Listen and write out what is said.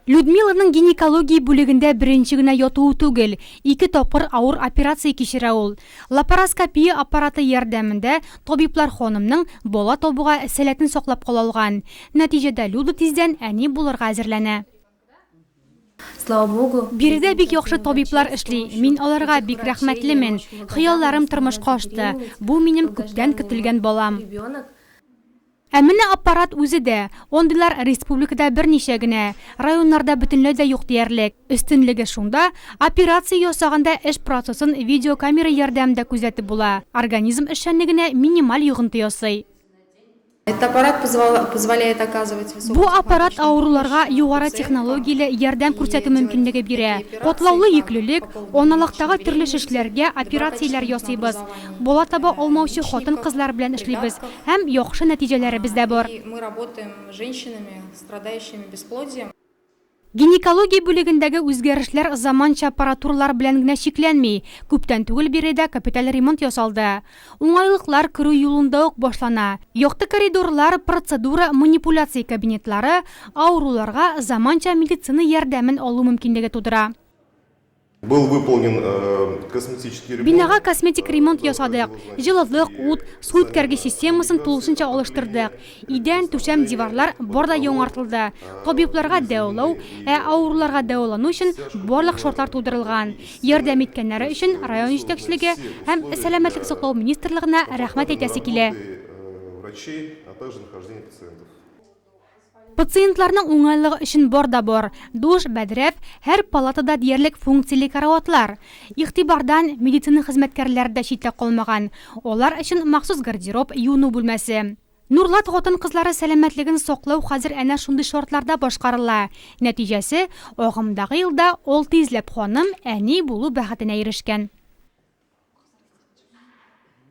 Людмиланың гинекология бүлегендә беренче генә ятуы түгел, ике тапкыр авыр операция кичерә ул. Лапароскопия аппараты ярдәмендә табиблар ханымның бала табуга сәләтен саклап кала алган. Нәтиҗәдә Люда тиздән әни булырга әзерләнә. Слава Богу. Биредә бик яхшы табиблар эшли, мин аларга бик рәхмәтлемен. Хыялларым тормышка ашты. Бу минем күптән көтелгән балам. Ә менә аппарат үзе дә, ондыйлар республикада берничә генә, районнарда бөтенләй дә юк диярлек. Өстенлеге шунда, операция ясаганда эш процессын видеокамера ярдәмендә күзәтеп була, организм эшчәнлегенә минималь йогынты ясый. Бу аппарат авыруларга югары технологияле ярдәм күрсәтү мөмкинлеге бирә. Катлаулы йөклелек, аналыктагы төрле шешләргә операцияләр ясыйбыз. Бала таба алмаучы хатын-кызлар белән эшлибез һәм яхшы нәтиҗәләребез дә бар. Гинекология бүлегендәге үзгәрешләр заманча аппаратуралар белән генә чикләнми, күптән түгел бире дә капиталь ремонт ясалды. Уңайлыклар керү юлында ук башлана. Якты коридорлар, процедура, манипуляция кабинетлары авыруларга заманча медицина ярдәмен алу мөмкинлеге тудыра. Был выполнен косметический ремонт. Бинага косметик ремонт ясадык. Җылылык, ут, су үткәргеч системасын тулысынча алыштырдык. Идән, түшәм, диварлар бар да яңартылды. Табибларга дәвалау, ә авыруларга дәвалану өчен барлык шартлар тудырылган. Ярдәм иткәннәре өчен район җитәкчелеге һәм Сәламәтлек саклау министрлыгына рәхмәт әйтәсе килә. Пациентларның уңайлыгы өчен бар да бар, душ, бәдрәф, һәр палатада диярлек функцияле караватлар. Игътибардан медицина хезмәткәрләре дә читтә калмаган. Алар өчен махсус гардероб, юыну бүлмәсе. Нурлат хатын-кызлары сәламәтлеген саклау хәзер әнә шундый шартларда башкарыла. Нәтиҗәсе, агымдагы елда алты йөзләп ханым әни булу бәхетенә ирешкән.